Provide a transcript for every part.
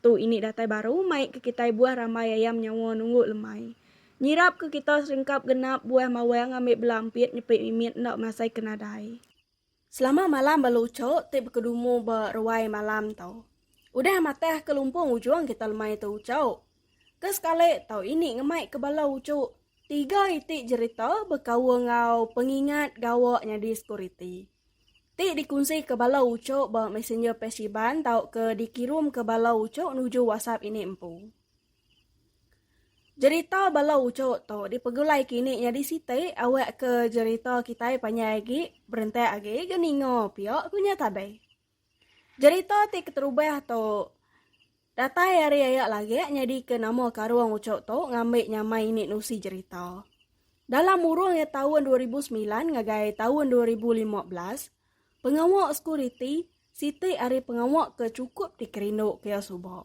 Tu ini datai baru mai ke kitai buah rambai ayam nyawa nunggu lemai. Nyirap ke kita serengkap genap buah mawang ngambi bela empit nyepit mimit enda masai ke nadai. Selama malam ba luco ti bekedumu ba ruai malam tu. Udah matah ke lumpung ujung kita lemai tu uco. Ke sekali tu ini ngemai ke bala uco tiga iti jerita bekaul enggau pengingat gawa nyadi sekuriti. ti dikunsika bala uchup ba messenger page Iban tauka dikirumka bala uchup nuju WhatsApp ini empu. Jerita bala uchup tu dipegulai kini nyadi siti awakka jerita kitai panjai agi, berentak agi ga ninga pia, ku nya Tabei. Jerita ti keterubah tu datai ari aya lagak nyadika nama karung uchu tu ngambi nyamai ini nusi jerita. Dalam urung iya taun dua ribu semilan ngagai taun dua ribu lima belas, pengawa sekuriti siti ari pengawa ke chukup dikerinduka iya suba.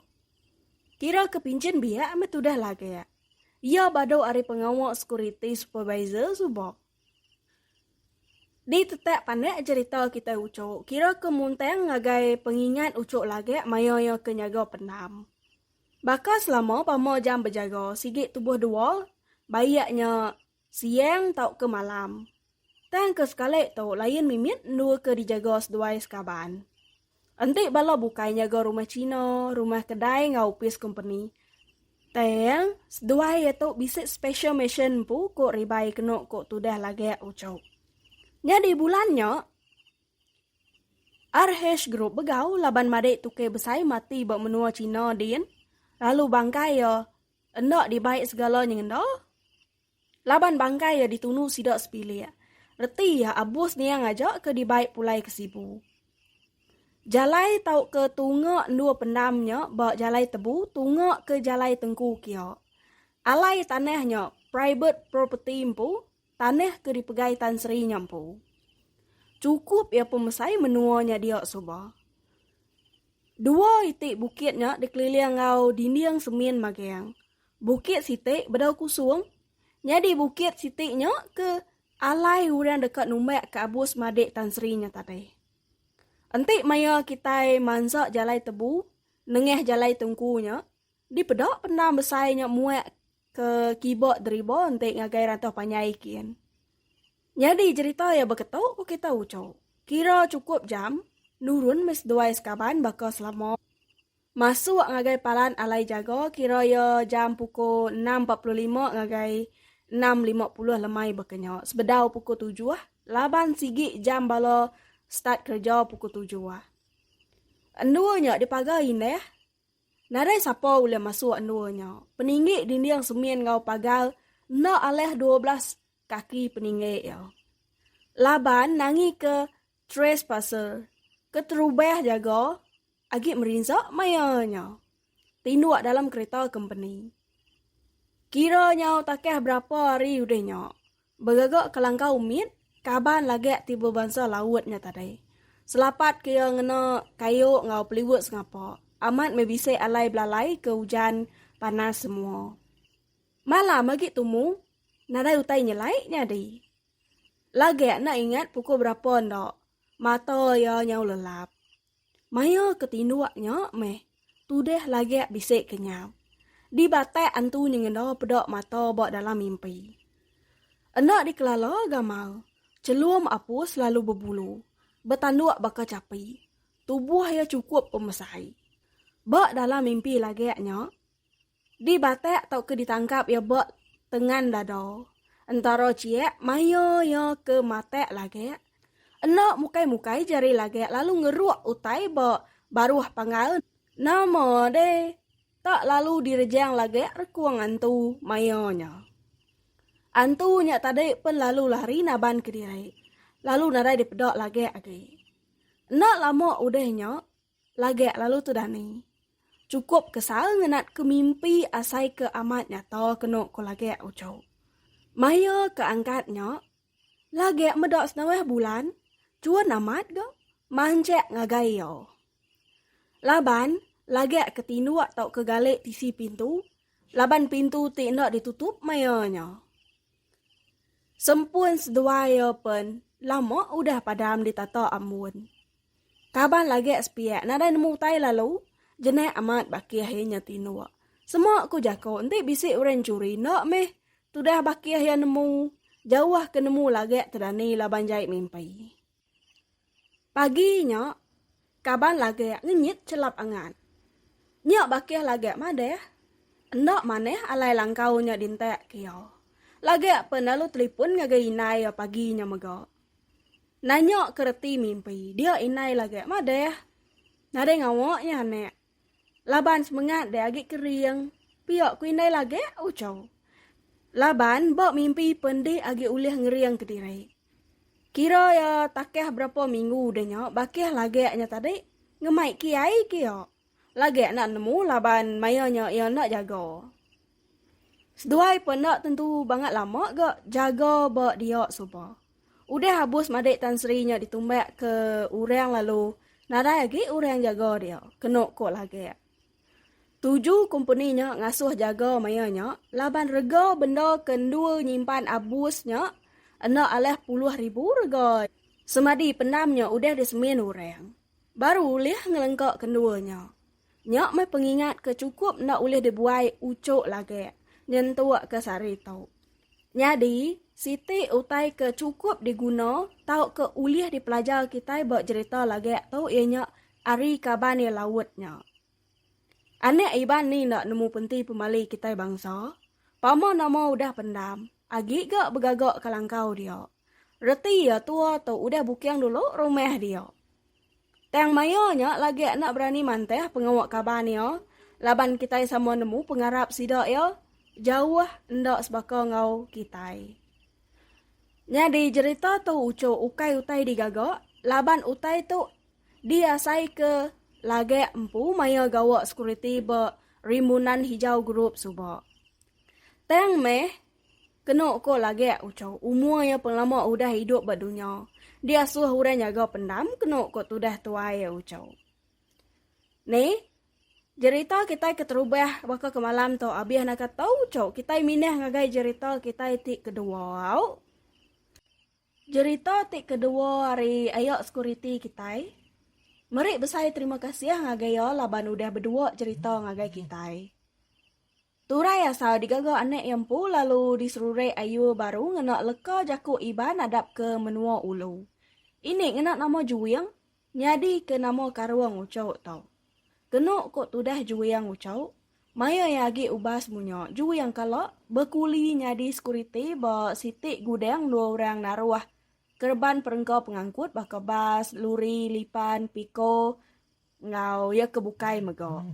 Kira ke pinchin biak meh tudah lagak. Iya badu ari pengawa sekuriti supervisor suba. Ditetak panak jerita kitai ucuk, kira ke muntang ngagai pengingat ucuk lagak maya iya ke nyaga pendam. Baka selama pama jam bejaga sigi tubuh dua, baik nya siang tauka malam. Tang ke sekali tu lain mimit endur ke dijaga seduai sekaban. Enti bala bukai nyaga rumah China, rumah kedai enggau opis kompeni, tang seduai iya tu bisi special mission empu ku Ribai kenu ku tudah Lagak Ucho. Nyadi bulan nya, RH Group begau laban madik tukai besai mati ba menua China din lalu bangkai iya enda dibai segala nyengenda. Laban bangkai iya ditunu sida sepilik. Reti iya abus niang aja ke dibai pulai ke Sibu. Jalai tauka tunga endur pendam nya ba Jalai Tebu tunga ke Jalai Tengku kia. Alai tanah nya private property empu, tanah ke dipegai Tan Sri nya empu. Chukup iya pemesai menua nya dia suba. Dua iti bukit nya dikeliling enggau dinding semin magang. Bukit siti bedau kusung nyadi bukit siti nya ke alai orang deka numbak ke abus madik Tan Sri nya tadi. Enti maya kitai mansa jalai tebu nengah jalai tungku nya, dipeda pendam besai nya muak ke kiba deriba enti ngagai rantoh panjai kin. Nyadi jerita iya beketu ku kita uchu. Kira chukup jam nurun meh seduai sekaban baka selama. Masuk ngagai palan alai jaga kira iya jam pukul enam empat puluh lima ngagai enam lima puluh lemai baka nya. Sebedau pukul tujuh laban sigi jam bala start kereja pukul tujuh. Endur nya dipagar indah. Nadai sapa ulih masuk endur nya. Peninggi dinding semin enggau pagar enda alih dua belas kaki peninggi iya. Laban nangika Trespasser, keterubah jaga agi merinsa maya nya tinduk dalam kereta kompeni. Kira nyau takah berapa hari udah nya, begaga kelangkau mit kaban lagak ti bebansa Laut nya tadi. Selapat ke iya ngena kayu enggau peliwut sengapa, amat meh bisi alai belalai ke ujan panas semua. Malam agi tumu, nadai utai nyelai nyadi. Lagak enda ingat pukul berapa enda, mata iya nyau lelap. Maya ke tinduk nya meh, tudah lagak bisi kenyap. Di batak antu nyengeda peda mata ba dalam mimpi. Enda dikelala gamal, chelum Apus lalu bebulu, betanduk baka chapi. Tubuh iya chukup pemesai. Ba dalam mimpi lagak nya, Dibatak tauka ditangkap iya ba tengan dada. Entara chiak maya iya ke matak lagak. Enda mukai-mukai jari lagak lalu ngeruk utai ba baruh panggal nama deh tak lalu direjang lagak rekung antu maya nya. Antu nya tadi pen lalu lari naban kediri lalu nadai dipeda lagak agi. Enda lama udah nya Lagak lalu tu Dani. Chukup ke sal ngenat ke mimpi asai ke amat nyata kenu ko Lagak uchu. Maya ke angkat nya, Lagak meda senawah bulan chun amat ga manchak ngagai iya. Laban Lagak ke tinduk tauka galik tisi pintu laban pintu ti enda ditutup maya nya. Sempun seduai iya pen lama udah padam di tata ambun. Kaban lagek sepiak nadai nemu utai lalu jenak amat bakih iya nya tinuk. Sema ku jaku enti bisi orang nyuri enda meh tudah bakih iya nemu jauh ke nemu lagek tedani laban jai mimpi. Pagi nya, kaban Lagak ngenyit chelap angan. Nya bakih Lagak madah, enda manah alai langkau nya dintak ke iya. Lagak pen lalu telipon ngagai indai iya pagi nya mega. Nanya ke reti mimpi dia indai Lagak madah, nadai ngawa nya anak. Laban semengat deh agi kering, pia ku indai lagi uco. Laban ba mimpi pen dih agi ulih ngering kediri. Kira iya takah berapa minggu deh nya bakih lagi nya tadi ngemai kiai kia. Lagi enda nemu laban maya nya iya enda jaga. Seduai pun enda tentu bangat lama ga jaga ba dia suba. Udah abus madik Tan Sri nya ditumbak ke orang lalu nadai agi orang jaga dia, kenu ko Lagak. Tuju kompeni nya ngasuh jaga maya nya laban rega benda ke endur nyimpan abus nya enda alah puluh ribu rega semadi pendam nya udah disemin orang baru ulih ngelengka ke endur nya. Nya meh pengingat ke chukup enda ulih dibuai uchuk lagi nyentuk ke sehari tu. Nyadi, siti utai ke chukup diguna tauka ulih dipelajar kitai ba jerita lagi tu iya nya ari kaban iya laut nya. Anak Iban ni enda nemu penti pemali kitai bangsa? Pama nama udah pendam, agi ga begaga kelangkau dia. Reti iya tua tu udah buking dulu rumah dia. Tang maya nya lagi enda berani mantah pengawa kaban iya laban kitai sama nemu pengarap sida iya jauh enda sebaka enggau kitai. Nyadi jerita tu uchu ukai utai digaga laban utai tu diasaika lagi empu maya gawa sekuriti ba Rimbunan Hijau Group suba. Tang meh Kenu ko lagek uco umur ia pengelama udah idup ba dunya, di asuh orang nyaga pendam kenu ko tudah tuai ia uco. Ni, jerita kitai ke terubah baka ke malam tu abih naka tau uco kitai minah ngagai jerita kitai ti kedua au. Jerita ti kedua ari ayak sekuriti kitai. Meri besai terima kasih ngagai ia laban udah bedua jerita ngagai kitai. Turai asal digaga anak iya empu lalu diserurek ayu baru ngena leka jaku Iban nadap ke menua ulu. Ini ngena nama Juing nyadi ke nama karung ucuk tu. Kenu ko tudah Juing ucuk, maya iya agi ubas munya Juing kala bekuli nyadi sekuriti ba siti gudang dua orang naruh kereban perengka pengangkut baka bas, luri, lipan, piko enggau iya ke bukai mega.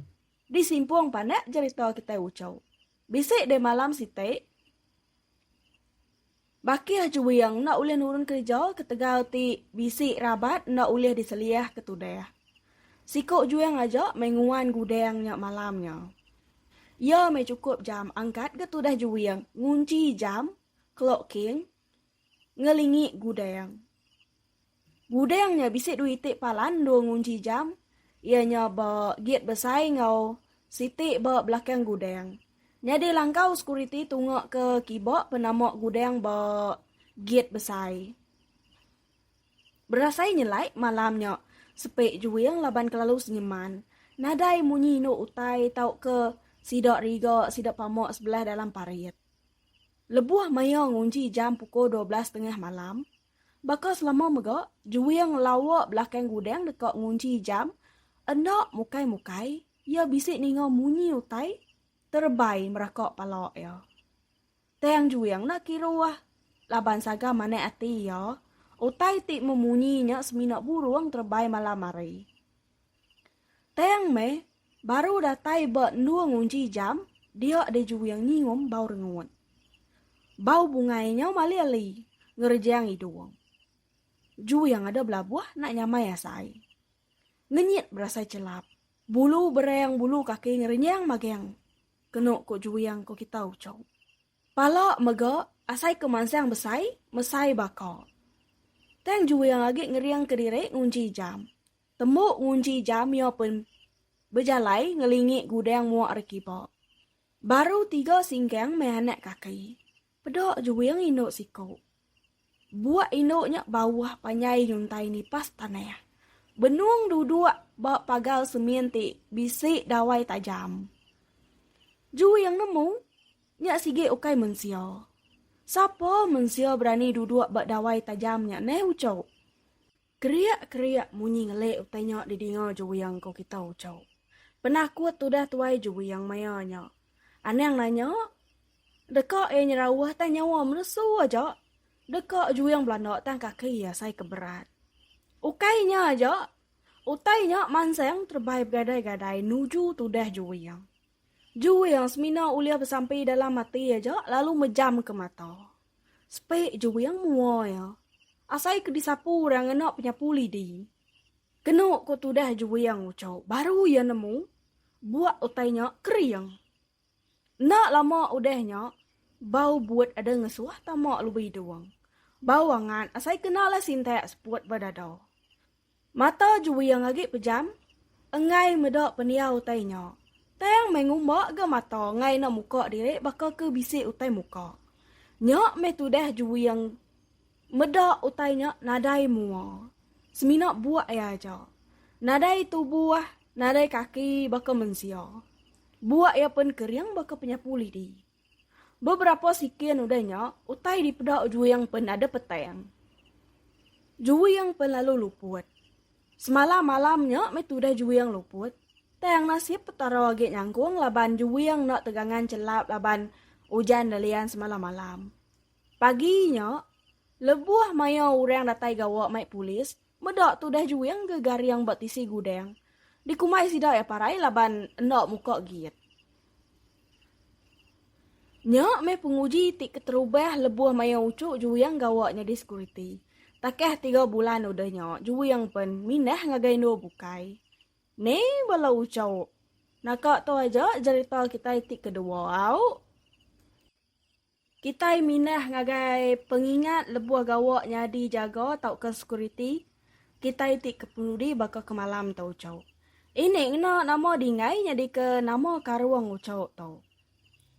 Disimpung panak jerita kitai Uchow. Bisi deh malam siti, Bakih Juwing enda ulih nurun kerja ketegal ti bisi rabat enda ulih diseliah ke tudah. Siku Juwing aja meh nguan gudang nya malam nya. Iya meh chukup jam angkat ga tudah Juwing ngunchi jam, clock king, ngelingi Gudang. Gudang nya bisi dua iti palan dua ngunji jam iya nya ba git besai enggau siti ba belakang gudang. Nyadi langkau sekuriti tunga ke kiba penama gudang ba git besai. Berasai nyelai malam nya sepi juing laban kelalu senyeman. Nadai munyi indu utai tauka sida riga sida pama sebelah dalam parit. Lebuh maioh ngunji jam pukul dua belas tengah malam, baka selama mega, Juing lawa belakang gudang deka ngunji jam, enda mukai-mukai iya bisi ninga munyi utai terebai meraka pala iya. Tang Juing enda kiruh laban saga manah ati iya, utai ti memunyi nya semina burung terebai malam hari. Tang meh, baru datai ba endur ngunji jam, dia deh juing nyium bau rengut. Bau bungai nyau mali ali ngerejang idung. Juing ada belabuh nak nyamai asai. Ngenyit berasai chelap, bulu berang bulu kaki ngerenyang magang kenu ku juing ku kita uchup. Pala mega asai ke mansang besai mesai baka. Tang juing agi ngering kediri ngunji jam. Tembu ngunji jam iya pen bejalai ngelingi gudang mua ari kiba. Baru tiga singgang meh anak kaki. Peda juing indu siku. Buak indu nya bauh panjai nyuntai nipas tanah. Benung duduk ba pagar semin ti bisi dawai tajam. Juing nemu, nya sigi ukai mensia. Sapa mensia berani duduk ba dawai tajam nya neh uchu. Keriak-keriak munyi ngelik utai nya didinga Juwiang ko kita Uchau. Penakut tudah tuai Juwiang maya nya. Anang nanya, Deka iya nyerauh tang nyawa menusu aja? Deka Juwiang belanda tang kaki iya asai ke berat. Ukai nya aja, utai nya mansang terebai begadai-gadai nuju tudah Juwiang. Juwiang semina ulih besampi dalam ati aja lalu mejamka mata. Sepik je wing mua iya. Asai ke disapu orang ngena penyapu lidi. Kenu ko tudah je wing uco baru iya nemu buak utai nya kering. Enda lama udah nya bau buat ada ngesuh tama lubih dung. Bau angat asai kena lah sintak seput ba dada. Mata Juwing agi pejam enggai meda pendiau utai nya. Tang meh ngumba ga mata enggai enda muka diri baka ke bisi utai muka. Nya meh tudah Juwing meda utai nya nadai mua. Semina buak iya aja. Nadai tubuh, nadai kaki baka mensia. Buak iya pen kering baka penyapu lidi. Beberapa sikin udah nya, utai dipeda Juing pen ada petang. Juing pen lalu luput. Semalam malam nya meh tudah Juing luput. Tang nasib Petara agi nyangkung laban Juing enda tegangan chelap laban ujan dalian semalam malam. Pagi nya, lebuh maya orang datai gawa mai polis, Meda tudah juing ke garing ba tisi gudang. Dikumbai sida iya parai laban enda muka giit. Nya meh penguji ti keterubah lebuh maya uchu juing gawa nyadi sekuriti. Takah tiga bulan udah nya juing pen mindah ngagai endur bukai. Ni bala uchu. Naka tu aja jerita kitai ti kedua au. Kitai mindah ngagai pengingat lebuh gawa nyadi jaga tauka sekuriti kitai ti ke penudi baka ke malam tu uchu. Ini ngena nama Dingai nyadika nama karung uchu tu.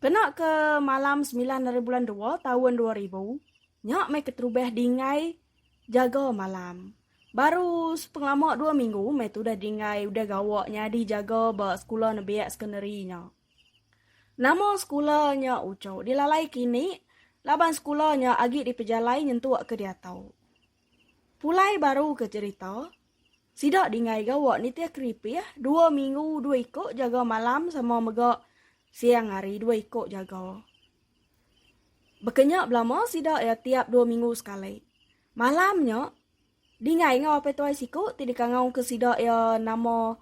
Kena ke malam semilan ari bulan dua taun dua ribu, nya meh keterubah Dingai jaga malam. Baru sepengelama dua minggu meh tu udah Dingai udah gawa nyadi jaga ba sekula nembiak sekondari nya. Nama sekula nya uchu dilalai kini laban sekula nya agi dipejalai nyentuk ke diatau. Pulai baru ke cherita, sida dingai gawa nitih keripih dua minggu dua iko jaga malam sama mega siang hari dua iko jaga. Bekenya belama sida iya tiap dua minggu sekali. Malam nya, dingai enggau apai tuai siku ti dikangau ke sida iya nama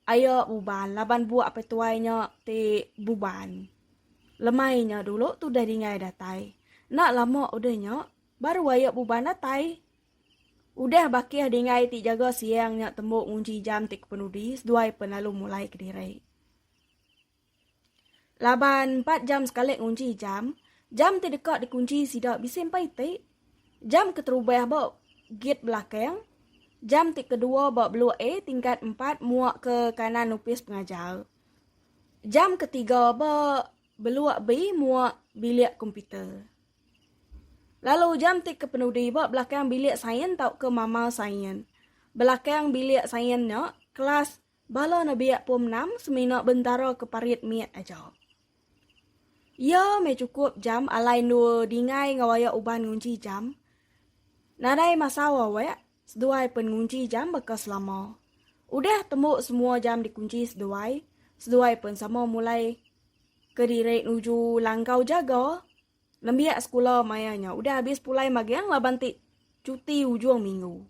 Ayo buban laban buak pai tuai nya ti buban lemai nya dulu tudah dingai datai. Enda lama udah nya baru ayo buban datai. Udah bakih dingai ti jaga siang nya tembu ngunchi jam ti kepenudi seduai pen lalu mulai kediri. Laban empat jam sekali ngunchi jam, jam ti deka dikunchi sida bisi empa iti, jam keterubah ba git belakang, jam ti kedua ba blok A tingkat empat mua ke kanan opis pengajar, jam ketiga ba blok B mua bilik komputer, lalu jam ti kepenudi ba belakang bilik sains tauka mama sains. Belakang bilik sains nya, kelas Bala nebiak pom enam semina bentara ke parit mit aja. Iya meh cukup jam alai endu dingai enggau ayak uban ngunci jam. Nadai masau awek, seduai pen ngunci jam baka selama. Udah tembu semua jam dikunci seduai, seduai pen sama mulai kediri nuju langkau jaga. Nembiak sekula maya nya udah abis pulai magang laban ti cuti ujung minggu.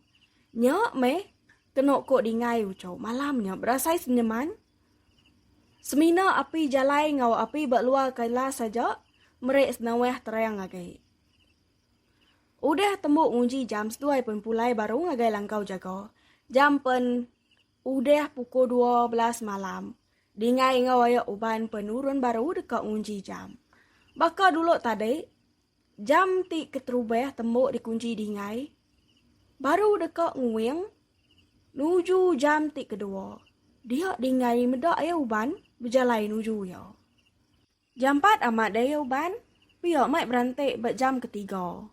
Nya meh kenu ku Dingai Ucho malam nya berasai senyeman. Semina api jalai enggau api ba luar kailas aja meri senawah terang agi. Udah tembu nguji jam seduai pen pulai baru ngagai langkau jaga. Jam pen. Udah pukul dua belas malam, Dingai enggau Ayok Uban penurun baru deka ngunji jam. Baka dulu tadi, jam ti keterubah tembu dikunji Dingai baru deka nguing nuju jam ti kedua. Dia Dingai meda Ayok Uban bejalai nuju iya. Jampat amat daya uban, pia mai beranti ba jam ketiga.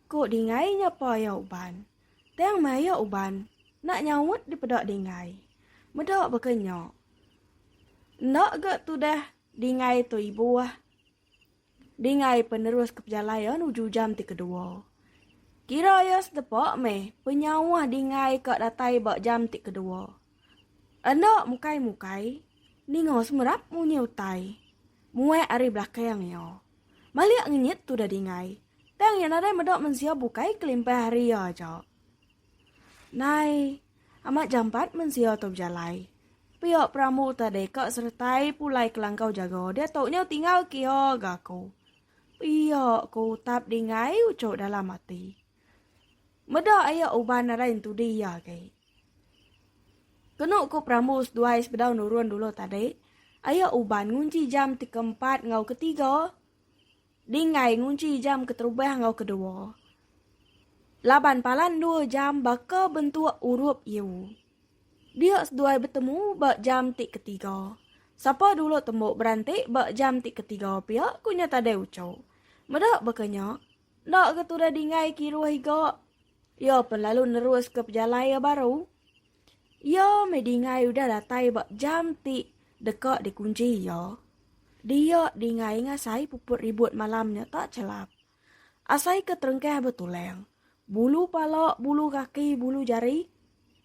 Ku Dingai nya paya uban. Tang maya uban enda nyaut dipeda Dingai. Meda baka nya. Enda ga tudah Dingai tu ibuh. Dingai pen nerus ke pejalayan uju jam ti kedua. Kira iya sedepa meh penyauh Dingai ka datai ba jam ti kedua. Enda mukai-mukai, ninga semerap munyi utai. Muak ari belakang iya. Malik ngenyit tudah dingai, tang iya nadai meda mensia bukai kelimpah ari iya aja. Nai, amat jampat mensia tu bejalai. Pia perambu tadi ka seretai pulai kelangkau jaga diatu nya tinggal ke iya ga aku. Pia ku utap dingai uchu dalam ati. Meda ayak uban nadai entudi iya agi. Kenu ku perambu seduai sebedau nurun dulu tadi, ayak uban ngunchi jam ti keempat enggau ketiga dinggai ngunchi jam keterubah enggau kedua. Laban palan dua jam baka bentuk urup iu. Dia seduai betemu ba jam ti ketiga. Sapa dulu tembu beranti ba jam ti ketiga pia ku nya tadi uchu. Meda baka nya, Enda ke tudah dingai kiruh iga, iya pen lalu neruska pejalai iya baru. Iya meh dingai udah datai ba jam ti deka dikunchi iya. Dia dingai ngasai puput ribut malam nya tak chelap. Asai ke terengkah betulang, bulu pala, bulu kaki, bulu jari,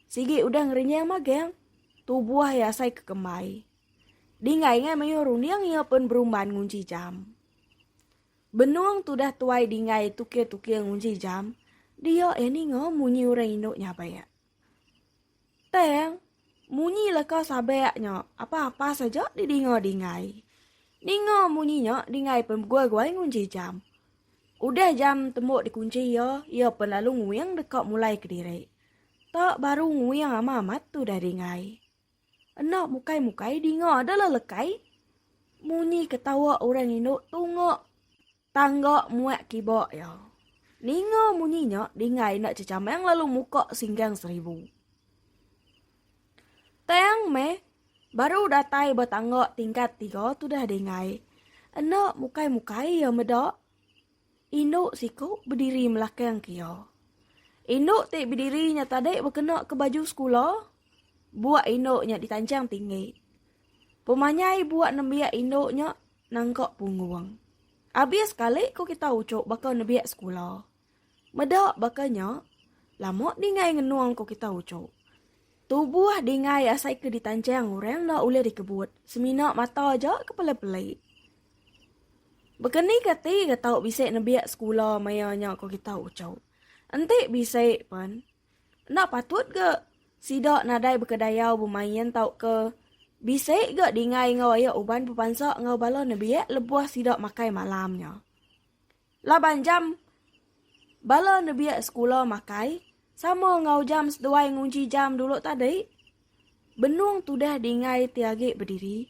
sigi udah ngerenyang magang, tubuh iya asai ke kembai. Dingai ngai mayuh runding iya pen berumban ngunchi jam. Benung tudah tuai dinggai tukir-tukir ngunji jam, dia iya ninga munyi orang indu nyabek. Tang, munyi leka sabek nya apa-apa saja didinga dinggai. Ninga munyi nya dinggai pen beguai-guai ngunji jam. Udah jam tembu dikunchi iya, iya pen lalu nguing deka mulai kediri. Tak baru nguing ama amat tudah dinggai. Enda mukai-mukai dinga da la lekai. Munyi ketawa orang indu tunga tangga muak kiba iya. Ninga munyi nya Dingai enda cecamang lalu muka singgang seribu. Tang meh baru datai ba tangga tingkat tiga tudah Dingai. Enda mukai-mukai iya meda. Indu siku bediri melakang ke iya. Indu ti bediri nya tadi bekena ke baju sekula. Buak indu nya ditanchang tinggi. Pemanyai buak nembiak indu nya nangka punggung. Abis sekali ku kita uchu baka nebiak sekula. Meda baka nya, lama dingai ngenung ku kita uchu. Tubuh dingai asai ke ditanchang orang enda ulih dikebut, semina mata aja ke peli-peli. Bekeni ka ti ga tau bisi nebiak sekula maya nya ko kita ucau. Enti bisi pen enda patut ga sida nadai beka dayau bemain tauka bisi ga dingai enggau ayak uban bepansa enggau bala nebiak lebuh sida makai malam nya. Laban jam bala nebiak sekula makai sama enggau jam seduai ngunchi jam dulu tadi. Benung tudah dingai ti agi bediri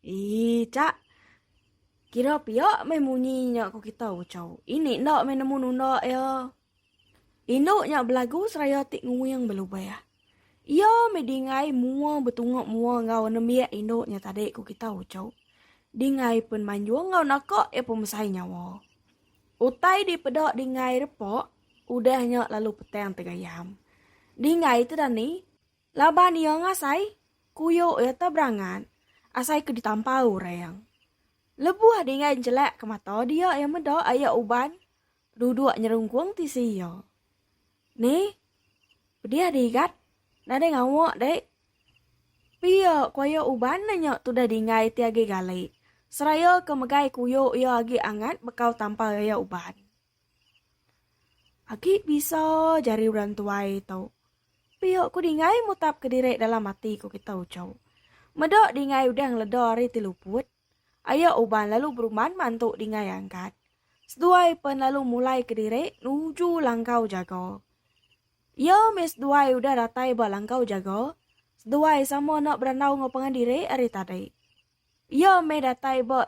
Ii cak. Kira pia meh munyi nya ku kita ucau. Ini enda meh nemu nunda iya. Indu nya belagu seraya ti nguing belubah. Iya meh dingai mua betunga mua enggau nembiak indu nya tadi ku kita ucau. Dingai pen manjung enggau naka iya pemesai nyawa. Utai dipeda dingai repa udah nya lalu petang tegayam. Dingai te dani Laban iya ngasai kuyuk iya te berangan asai ke ditampau orang. Lebuh Dingai njelak ke mata dia iya meda ayak uban duduk nyerungkung tisi iya. Ni, pedih di Igat, nadai ngawa dek. Pia ku ayak uban nanya tudah Dingai ti agi gali seraya ke megai kuyuk iya agi angat bekau tampau ayak uban. Agi bisa jari orang tuai tu. Pia ku Dingai mutap ke diri dalam ati ku kita uchu. Meda Dingai udah ngeleda ari ti luput. Aya uban lalu beruman mantu Dingai angkat. Seduai pen lalu mulai ke diri nuju langkau jaga. Iya mih seduai udah datai ba langkau jaga. Seduai sama enda berandau enggau pangan diri ari tadi. Iya meh datai ba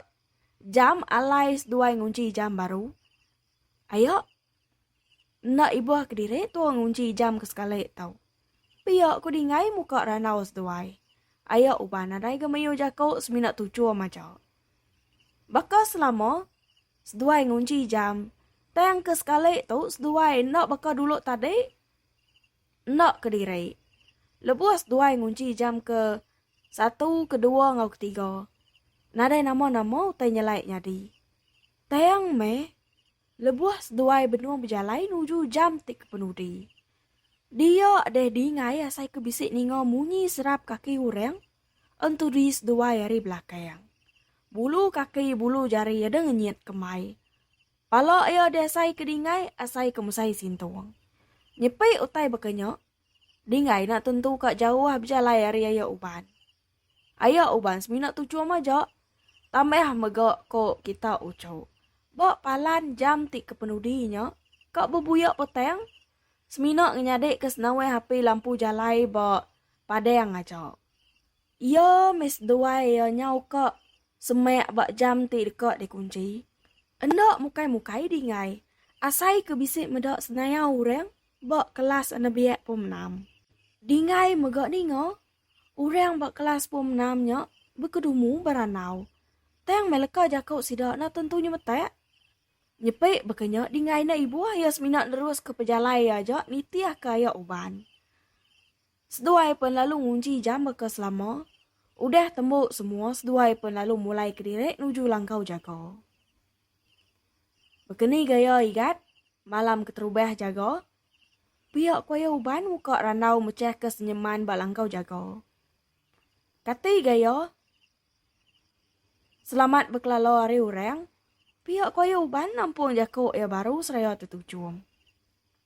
jam alai seduai ngunchi jam baru. Aya. Enda ibuh kediri tua ngunchi jam ke sekali tau. Pia ku dingai muka randau seduai. Aya uban nadai ga mayuh jaku semina tuchum aja. Baka selama seduai ngunchi jam tang ke sekali tu seduai enda baka dulu tadi. Enda kediri. Lebuh seduai ngunchi jam ke satu, kedua enggau ketiga, nadai nama-nama utai nyelai nyadi. Tayang meh, lebuh seduai benung bejalai nuju jam ti kepenudi, dia deh dingai asai ke bisi ninga munyi serap kaki orang entudi seduai ari belakang. Bulu kaki bulu jari deh ngenyit kemai. Pala iya diasai ke dingai asai ke musai sintung. Nyepi utai baka nya, Dingai enda tentu ka jauh bejalai ari aya uban. Aya uban semina tuchum aja, tambah mega ko kita uchu. Ba palan jam ti kepenudi nya, ka bebuya petang semina ngenyadika senawai api lampu jalai ba padang aja. Iya meh seduai iya nyau ka semak ba jam ti deka dikunchi. Enda mukai-mukai dingai, asai ke bisi meda senaya orang ba kelas anebiak pom enam. Dingai mega ninga, orang ba kelas pom enam nya bekedumu berandau. Tang meh leka jaku sida enda tentu nyemetak. Nyepi baka nya dingai enda ibuh iya semina neruska pejalai iya aja nitihka aya uban. Seduai pen lalu ngunchi jam baka selama. Udah tembu semua seduai pen lalu mulai kediri nuju langkau jaga. Bekeni gaya Igat malam keterubah jaga, pia kuaya uban muka randau mechah ke senyeman ba langkau jaga. Kati gaya Selamat bekelala ari urang, pia kuaya uban nampung jako ia baru seraya tetuchum.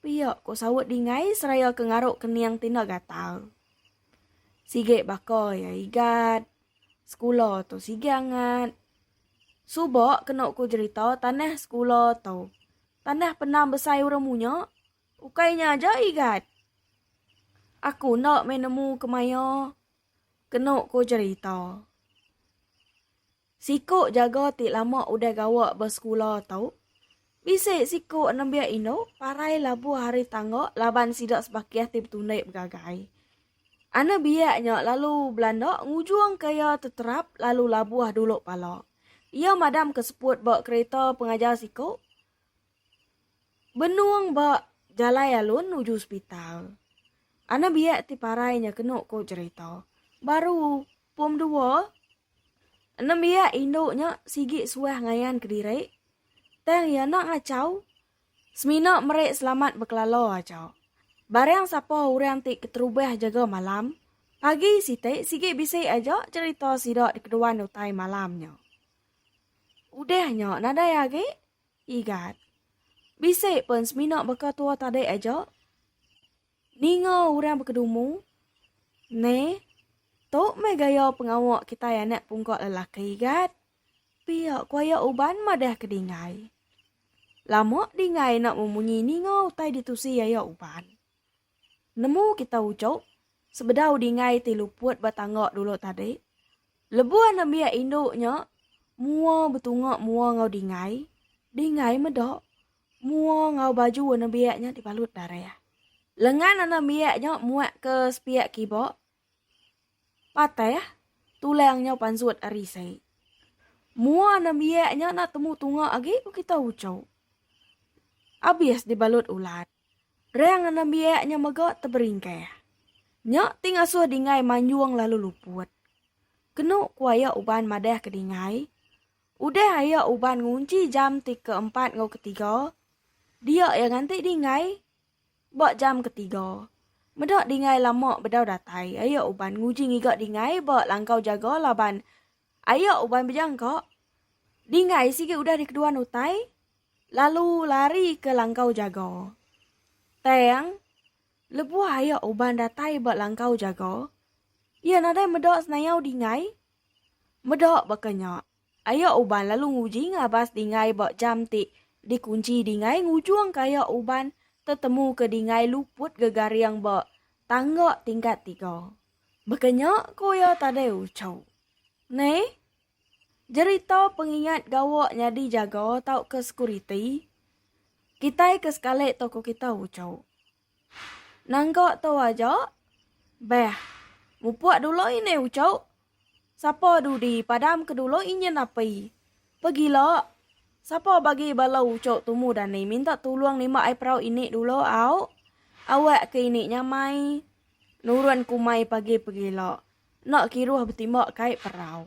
Pia, ko saut Dingai seraya ke ngaruk kening Tina Gatal. Sigi baka iya Igat. Sekula tu sigi angat. Suba kenu ku jerita tanah sekula tu. Tanah penam besai urang munya. Ukai nya aja Igat. Aku enda meh nemu kemaya kenu ku jerita. Siku jaga ti lama udah gawa ba sekula tu, bisi siku nembiak indu parai labuh ari tangga laban sida sebakih ti betundi begagai. Anak biak nya lalu belanda ngujungka iya teterap lalu labuh dulu pala. Iya madamka seput ba kereta pengajar siku benung ba jalai alun nuju sepital. Anak biak ti parai nya kenu ku jerita, baru pom dua Nembiak indu nya sigi suah ngayan kediri tang iya enda ngachau semina meri selamat bekelala aja. Barang sapa orang ti keterubah jaga malam, pagi siti sigi bisi aja cherita sida dikeduan utai malam nya. Udah nya nadai agi? Igat. Bisi pun semina baka tua tadi aja. Ninga orang bekedumu, Neh, tu meh gaya pengawa kitai anak pungka lelaki gat. Pia ku aya uban madah ke Dingai. Lama Dingai enda memunyi ninga utai ditusi aya uban. Nemu kita ujok, sebedau Dingai ti luput ba tangga dulu tadi, lebuh anak biak indu nya mua betunga mua enggau Dingai, Dingai meda Mua enggau baju warna biak nya dibalut darah. Lengan warna biak nya muak ke sepiak kiba. Patah tulang nya pansut ari isai. Mua warna biak nya enda temu tunga agi ku kita uchu. Abis dibalut ulat. Rang warna biak nya mega teberingkah. Nya ti ngasuh Dingai manjung lalu luput. Kenu ku aya uban madah ke Dingai, Udah ayak uban ngunchi jam ti ke empat enggau ke tiga, diak iya nganti dingai ba jam ke tiga. Meda dingai lama bedau datai, ayak uban nguji ngiga dingai ba langkau jaga laban ayak uban bejangka dingai sigi udah di keduan utai lalu lari ke langkau jaga. Tang, lebuh ayak uban datai ba langkau jaga, iya nadai meda senayau dingai Meda baka nya, aya uban lalu nguji ngabas dingai ba jam ti dikunchi dingai ngujung ke aya uban tetemu ke dingai luput gegaring ba tangga tingkat tiga. Baka nya ku iya tadai uchu. Neh, jerita pengingat gawa nyadi jaga tauka sekuriti kitai ke sekali tokoh kita uchu. Nangka tu aja. Beh. Mupuk dulu ini ucuk. Sapa dudi padam ke dulu inyin api. Pegila. Sapa bagi bala ucuk tumu dani minta tulung nimba ai perau ini dulu au. Awak ke ini nyamai. Nurun kumai pagi pegila. Nak kiruh betimba kai perau.